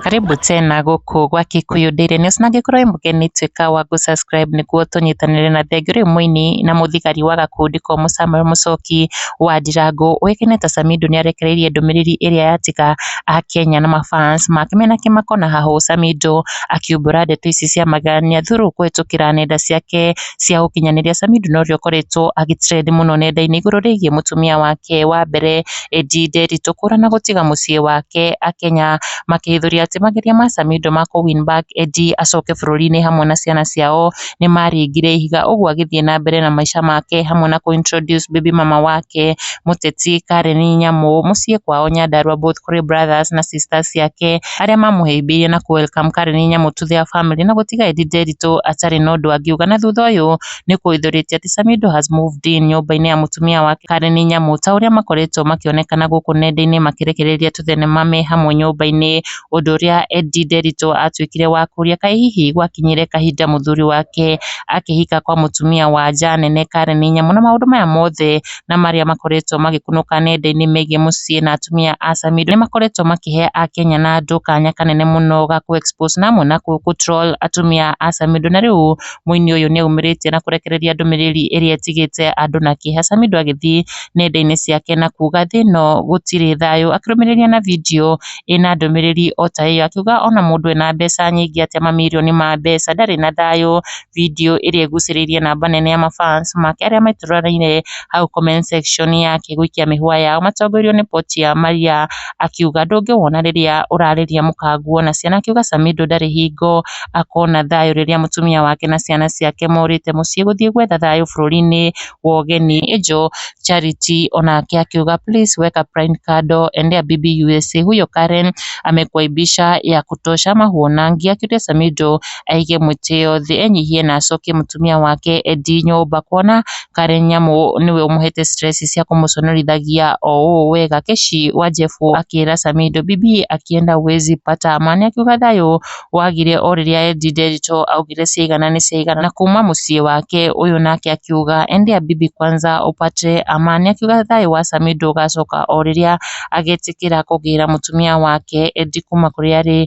Karibu tena gũkũ gwa Kikuyu Daily News na angĩkorwo wĩ mũgeni tuĩka wa gũ subscribe nĩguo tũnyitanĩre na thengiũ rĩu mũini na mũthigari wa gakundi komũ Samuel Mũchoki wa Ndirango ũĩkaine ta Samido nĩarekereirie ndũmĩrĩri ĩrĩa yatiga Akenya na ma fans make mena kĩmako na hahũ Samido akiumbũra ndeto ici cia magegania through kũhĩtũkĩra nenda ciake cia ũkinyanĩria. Sami Ndune ũrĩa ũkoretwo agĩ trend mũno nenda-inĩ igũrũ rĩgiĩ mũtumia wake wa mbere Edi Nderitu kũra na gũtiga mũciĩ wake Akenya makĩhithũria atĩ mageria ma Sami Ndũ ma kũ win back Edi acoke bũrũri-inĩ hamwe na ciana ciao nĩ maringire ihiga. Ũguo agĩthiĩ na mbere na maica make hamwe na kũ introduce baby mama wake mũteti Karen Nyamu mũciĩ kwao Nyandarua both kũrĩ brothers na sisters ciake. arĩa mamũhĩmbĩirie na kũ welcome Karen Nyamu to their family na gũtiga Eddy Nderitu atarĩ na ũndũ angiuga na thutha ũyũ nĩ kũhithũrĩtie atĩ Samido has moved in nyũmba-inĩ ya mũtumia wake Karen Nyamu ta ũrĩa makoretwo makĩonekana gũkũ nenda-inĩ makĩrekereria tũthenema me hamwe nyũmba-inĩ ũndũ ũrĩa Eddy Nderitu atuĩkire wa kũria kaĩ hihi gwakinyire kahinda mũthuri wake akĩhika kwa mũtumia wa nja nene Karen Nyamu na maũndũ maya mothe na marĩa makoretwo magĩkunũka nenda-inĩ megiĩ mũciĩ na atumia a Samido, nĩ makoretwo makĩhe Akenya na andũ kanya kanene mũno ga kũ expose na amwe na kũ troll atumia a Samido. Na rĩu mũini ũyũ nĩ aumĩrĩtie na kũrekereria ndũmĩrĩri ĩrĩa ĩtigĩte andũ na kĩeha, Samido agĩthiĩ nenda-inĩ ciake na kuuga thĩ ĩno gũtirĩ thayũ, akĩrũmĩrĩria na video ĩna ndũmĩrĩri o ta ĩyo, akiuga ona mũndũ ena mbeca nyingĩ atĩa, mamirioni ma mbeca, ndarĩ na thayũ. video ĩrĩa ĩgucĩrĩirie namba nene ya mabans make arĩa meturanĩirie hau comment section yake gũikia mĩhũa yao matongoirio nĩ Portia Maria akiuga ndũngĩwona rĩrĩa ũrarĩria mũkanguo na ciana akiuga Samido ndarĩ hingo akona thayũ rĩrĩa mũtumia wake na ciana ciake morĩte mũciĩ gũthiĩ gwetha thayũ bũrũri-inĩ wa ũgeni. Angel Charity onake akiuga please weka prime kando endea bibi USA huyo Karen amekuaibisha ya kutosha ama huonangi akiuria Samido aige mũtĩ ĩyo thĩ enyihie na acokie mũtumia wake Edĩ nyũmba kuona karĩ nyamũ nĩwe ũmũhete stress cia kũmũconorithagia o ũũ wega. Keci wa Jefu akĩra Samido bibi akienda huwezi pata amani akiuga thayũ wagire o rĩrĩa Edĩ Nderito augire ciaigana nĩ ciaigana na kuma mũciĩ wake ũyũ nake akiuga endea bibi kwanza upate amani akiuga thayũ wa Samido ũgacoka o rĩrĩa agetĩkĩra kũgĩra mũtumia wake Edĩ kuma kũrĩa arĩ.